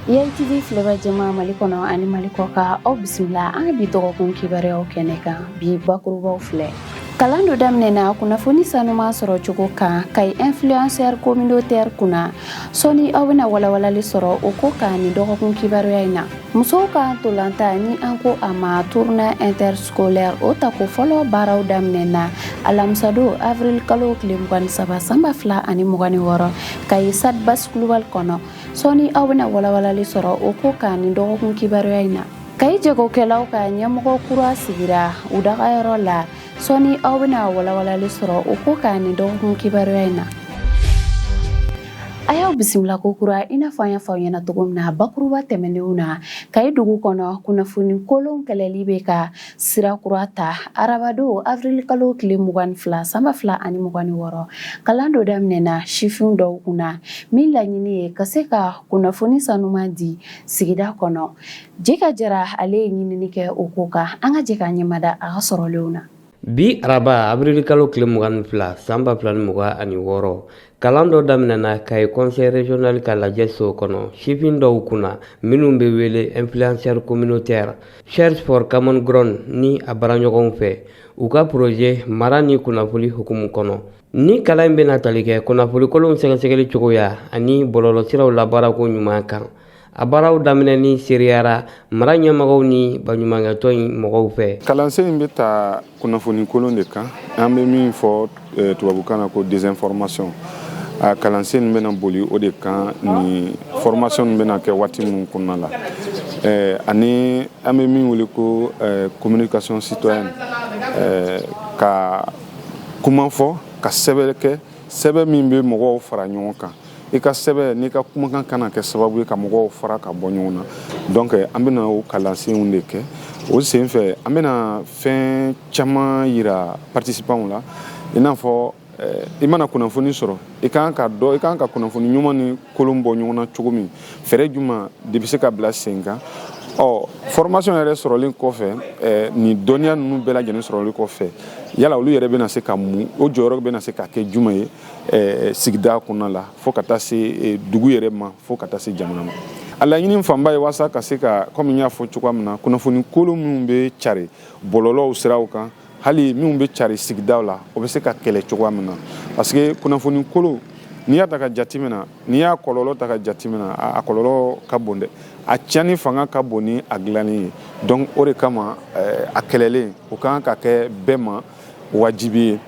YTV filɛbaa jama Mali kɔnɔ ani Mali kɔ kan aw bisimila an ka bi dɔgɔkun kibaruyaw kɛnɛ kan bi bakurubaw filɛ kalan dɔ daminɛna kunnafoni sanuman sɔrɔ cogo kan Kayi influenceur communautaire kunna sɔɔni aw bɛna walawalali sɔrɔ o ko kan nin dɔgɔkun kibaruya in na musow ka ntolatan ni an ko a ma tournoi interscolaire o tako fɔlɔ baaraw daminɛna alamisadon avril kalo tile mugan ni saba san ba fila ani mugan ni wɔɔrɔ Kayi stade Basi Kulubali kɔnɔ sɔɔni aw bɛna walawalali sɔrɔ o ko kan nin dɔgɔkun kibaruya in na Kayi jagokɛlaw ka ɲɛmɔgɔ kura sigira u dagayɔrɔ la sɔɔni aw bɛna walawalali sɔrɔ o ko kan nin dɔgɔkun kibaruya in na a y'aw bisimila ko kura i n'a fɔ an y'a fɔ aw ɲɛna cogo min na bakuruba tɛmɛnenw na Kayi dugu kɔnɔ kunnafoni kolon kɛlɛli bɛ ka sira kura ta arabadon avril kalo tile mugan ni fila san ba fila ani mugan ni wɔɔrɔ kalan dɔ daminɛna sifin dɔw kunna min laɲini ye ka se ka kunnafoni sanuman di sigida kɔnɔ Jeka Jara ale ye ɲinini kɛ o ko kan an ka jɛ ka ɲɛmada a ka sɔrɔlenw na bi araba avril kalo tile mugan ni fila san ba fila ni mugan ni wɔɔrɔ Kalan dɔ daminɛna Kayi conseil régional ka lajɛ so kɔnɔ sifin dɔw kunna minnu bɛ wele influenceur communautaire Search for Common Ground ni a baaraɲɔgɔnw fɛ u ka projet mara ni kunnafoni hukumu kɔnɔ nin kalan in bɛna tali kɛ kunnafonikolonw sɛgɛsɛgɛli cogoya ani bɔlɔlɔsiraw labaarako ɲuman kan a baaraw daminɛni seereyara mara ɲɛmɔgɔw ni baɲumankɛtɔn in mɔgɔw fɛ kalansen in bɛ ta kunnafoni kolon de kan an bɛ min fɔ eh, tubabukan na ko désinformation a kalansen in bɛna boli o de kan nin formation in bɛna kɛ waati min kɔnɔna la eh, ani an bɛ min wele ko eh, communication citoyenne ka kuma fɔ ka sɛbɛn kɛ sɛbɛn min bɛ mɔgɔw fara ɲɔgɔn kan i ka sɛbɛn n'i ka kumakan kana kɛ sababu ye ka mɔgɔw fara ka bɔ ɲɔgɔn na donc an bɛna o kalansenw de kɛ o sen fɛ an bɛna fɛn caman yira participants la i n'a fɔ eh, i mana kunnafoni sɔrɔ i kan ka dɔ i kan ka kunnafoni ɲuman ni kolon bɔ ɲɔgɔn na cogo min fɛɛrɛ juma de bɛ se ka bila sen kan ɔ formation yɛrɛ sɔrɔlen kɔfɛ eh, nin dɔnniya ninnu bɛɛ lajɛlen sɔrɔlen kɔfɛ yala olu yɛrɛ bɛna se ka mun o jɔyɔrɔ bɛna se ka kɛ juma ye eh, sigida kɔnɔna la fo ka taa se eh, dugu yɛrɛ ma fo ka taa se jamana ma a laɲini fanba ye waasa ka se ka kɔmi n y'a fɔ cogoya min na kunnafoni kolon minnu bɛ cari bɔlɔlɔw siraw kan hali minnu bɛ cari sigidaw la o bɛ se ka kɛlɛ cogoya min na parce que kunnafoni kolon n'i y'a ta ka jateminɛ n'i y'a kɔlɔlɔ ta ka jateminɛ a kɔlɔlɔ ka bon dɛ a tiɲɛni fanga ka bon ni a dilanni ye donc o de kama eh, a kɛlɛli o kan ka kɛ bɛɛ ma wajibi ye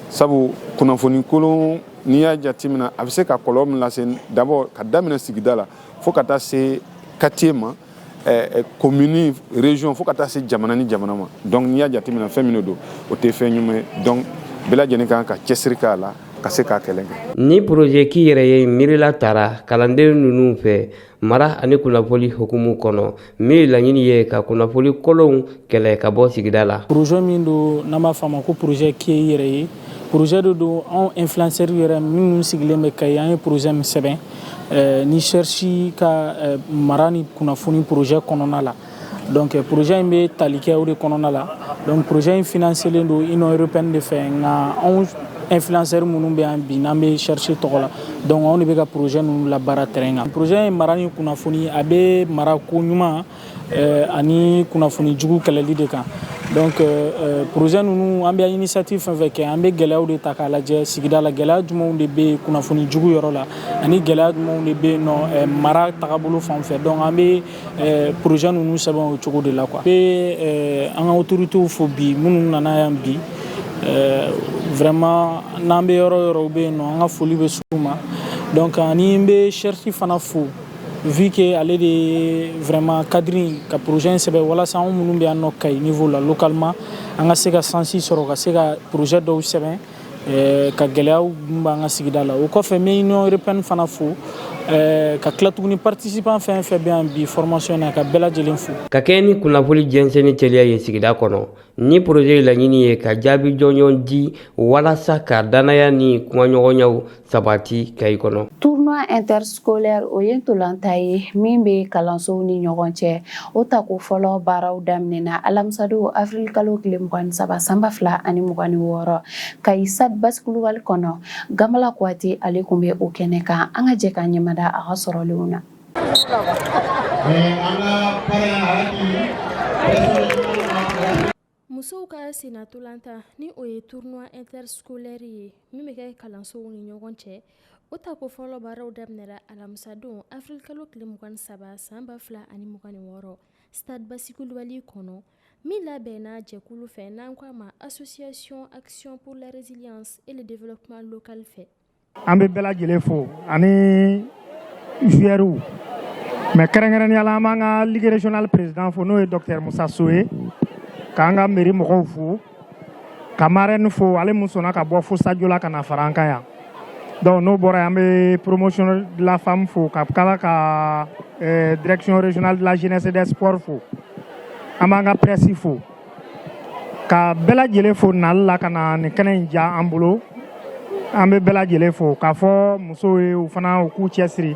sabu kunnafoni kolon n'i y'a jateminɛ a bɛ se ka kɔlɔlɔ min lase d'abord ka daminɛ sigida la fo ka taa se quartier ma commune eh, eh, région fo ka taa se jamana ni jamana ma donc n'i y'a jateminɛ fɛn min de don o tɛ fɛn ɲuman ye donc bɛɛ lajɛlen kan ka cɛsiri k'a la ka se k'a kɛlɛ kɛ ni projet k'i yɛrɛ ye miirila tara kalanden ninnu fɛ mara ani kunnafoli hukumu kɔnɔ min laɲini ye ka kunnafoli kolonw kɛlɛ ka bɔ sigida la projet min don n'an b'a fɔ a ma ko projet k'i yɛrɛ ye projet de don anw influenceur yɛrɛ minnu sigilen bɛ Kayi an ye projet min sɛbɛn eh, ni Search ka eh, mara ni kunnafoni projet kɔnɔna la donc projet in bɛ tali kɛ o de kɔnɔna la donc projet in financelen don Union européenne de fɛ nka anw influenceurs minnu bɛ yan bi n'an bɛ Search tɔgɔ la donc anw de bɛ ka projet ninnu labaara terrain kan projet in mara ni kunnafoni a bɛ mara ko ɲuman eh, ani kunnafoni jugu kɛlɛli de kan donc euh, euh, projet ninnu an bɛ initiative fɛn fɛn kɛ an bɛ gɛlɛyaw de ta k'a lajɛ sigida la gɛlɛya jumɛnw de bɛ yen kunnafoni jugu yɔrɔ la ani gɛlɛya jumɛnw de bɛ yen nɔ eh, mara tagabolo fan fɛ donc an bɛ Eh, projet ninnu sɛbɛn o cogo de la quoi an bɛ an ka autorités fo bi minnu nana yan bi eh, vraiment n'an bɛ yɔrɔ yɔrɔ bɛ yen nɔ an ka foli bɛ s'u ma donc ani n bɛ Search fana fo vu que ale de vraiment cadre ka projet in sɛbɛn walasa an minnu bɛ yan nɔ Kayi niveau la localement an ka se ka sansi sɔrɔ ka se ka projet dɔw sɛbɛn ka gɛlɛyaw b'an ka sigida la o kɔfɛ n bɛ Union Européenne fana fo ka tila tuguni participant fɛn fɛn bɛ yan bi formation na ka bɛɛ lajɛlen fo. Ka kɛɲɛ ni kunnafoni jɛnsɛnni teliya ye sigida kɔnɔ, ni projet laɲini ye ka jaabi jɔnjɔn di walasa ka dannaya ni kumaɲɔgɔnyaw Sabati Kayi kɔnɔ tournoi interscolaire o ye ntolanta ye min bɛ kalansow ni ɲɔgɔn cɛ o tako fɔlɔ baaraw daminɛna alamisadon avril kalo tile mugan ni saba san ba fila ani mugan ni wɔɔrɔ Kayi stade Basi Kulubali kɔnɔ Gamala Kuyatɛ ale tun bɛ o kɛnɛ kan an ka jɛ k'an ɲɛmada a ka sɔrɔlenw na Musow ka sennatolanta ni o ye tournoi interscolaire ye min bɛ kɛ kalansow ni ɲɔgɔn cɛ, o tako fɔlɔ baaraw daminɛra alamisadon avril kalo tile 23 san 2026 stade Basi Kulubali kɔnɔ min labɛnna jɛkulu fɛ n'an k'a ma association action pour la résilience et le développement local fɛ an bɛ bɛɛ lajɛlen fo ani joueurs mais kɛrɛnkɛrɛnnenya la an b'an ka ligue régionale président fo n'o ye docteur Musa So ye k'an ka mairie mɔgɔw fo ka marraine fo ale mun sɔnna ka bɔ fo Sajola ka na fara an kan yan donc n'o bɔra yen an bɛ promotion de la femme fo ka kala ka eh, direction régionale de la jeunesse et des sports fo an b'an ka presse fo ka bɛɛ lajɛlen fo nali la ka na nin kɛnɛ in diya an bolo an bɛ bɛɛ lajɛlen fo k'a fɔ musow ye u fana u k'u cɛsiri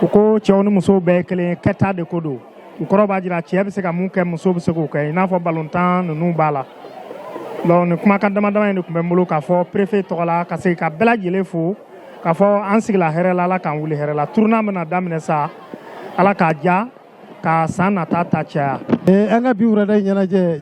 u ko cɛw ni musow bɛɛ kelen kɛta de ko don u kɔrɔ b'a jira cɛ bɛ se ka mun kɛ muso bɛ se k'o kɛ i n'a fɔ balontan ninnu b'a la donc nin kumakan dama dama in de tun bɛ n bolo k'a fɔ perefe tɔgɔ la ka segin ka bɛɛ lajɛlen fo k'a fɔ an sigila hɛrɛ la ala k'an wuli hɛrɛ la tournoi bɛna daminɛ sa ala k'a diya Ka san nata ta caya an ka bi wulada ɲɛnajɛ